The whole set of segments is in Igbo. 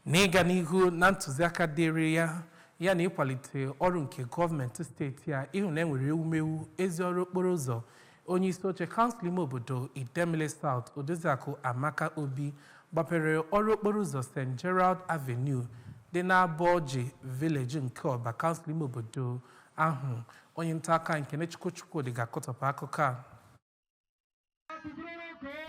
N'ịga n'ihu na ntụziaka dịịrị ya ya na ịkwalite ọrụ nke gọọmenti steeti a ịhụ na enwere ewumewu ezi ọrụ okporo ụzọ onye isi oche kansụl ime obodo Idemili South Odoziakụ Amaka Obi gbapere ọrụ okporo ụzọ St. Gerald Avenue dị n'Abọji Village nke Ọba kansụl ime obodo ahụ onye nta akụkọ Kenechukwu Chukwudi ga-akọtọpụ akụkọ a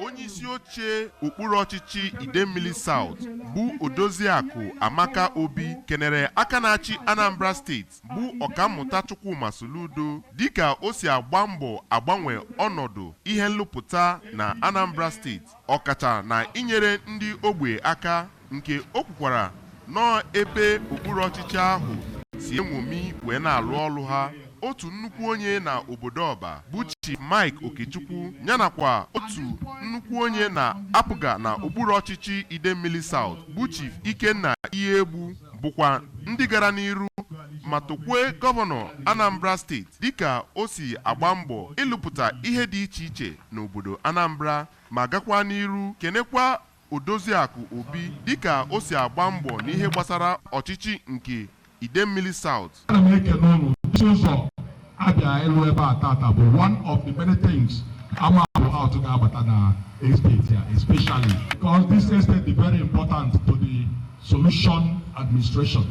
onye isi oche okpuru ọchịchị idemmili South bụ odoziakụ amaka obi kenere aka na-achị anambra steeti bụ ọkammụta chukwuma soludo dịka o si agba mbọ agbanwe ọnọdụ ihe nlụpụta na anambra steeti ọkacha na inyere ndị ogbe aka nke o kwukwara nọọ ebe okpuru ọchịchị ahụ si enwomi wee na-alụ ọlụ ha otu nnukwu onye na obodo ọba bụ Chief Mike Okechukwu yanakwa otu nnukwu onye na APGA na okpuru ọchịchị Idemmili South bụ Chief Ikenna Iyiegbu bụkwa ndị gara n'iru ma tokwue gọvanọ Anambra steeti dịka o si agba mbọ ịlụpụta ihe dị iche iche n'obodo Anambra ma gakwaa n'iru kenekwa Odoziakụ Obi dịka o si agba mbọ n'ihe gbasara ọchịchị nke Idemmili South. Ana m ekene ụnụ isi ụzọ abịa ịlụ ebe a tata bụ one of the many things ama bụ out ga-abata na estate ya especially because this estate is very important to the solution administration.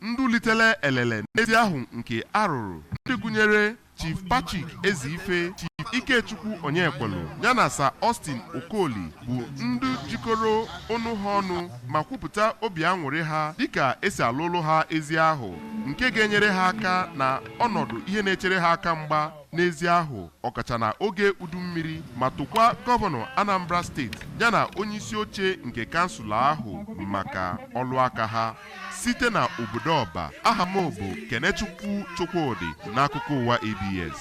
Ndụ litele elele n'ezi ahụ nke arụrụ ndị gụnyere Chief Patrick Ezeife Chief Ikechukwu Onyekwelu yana Sir Austin Okoli bụ ndị jikọrọ ọnụ ha ọnụ ma kwupụta obi aṅụrị ha dịka esi alụlụ ha ezi ahụ nke ga-enyere ha aka na ọnọdụ ihe na-echere ha aka mgba n'ezi ahụ ọkacha na oge udu mmiri ma tokwa gọvanọ Anambra steeti yana onyeisi oche nke kansụl ahụ maka ọlụ aka ha site na obodo ọba aha m bụ kenechukwu chukwudị n'akụkọ ụwa abs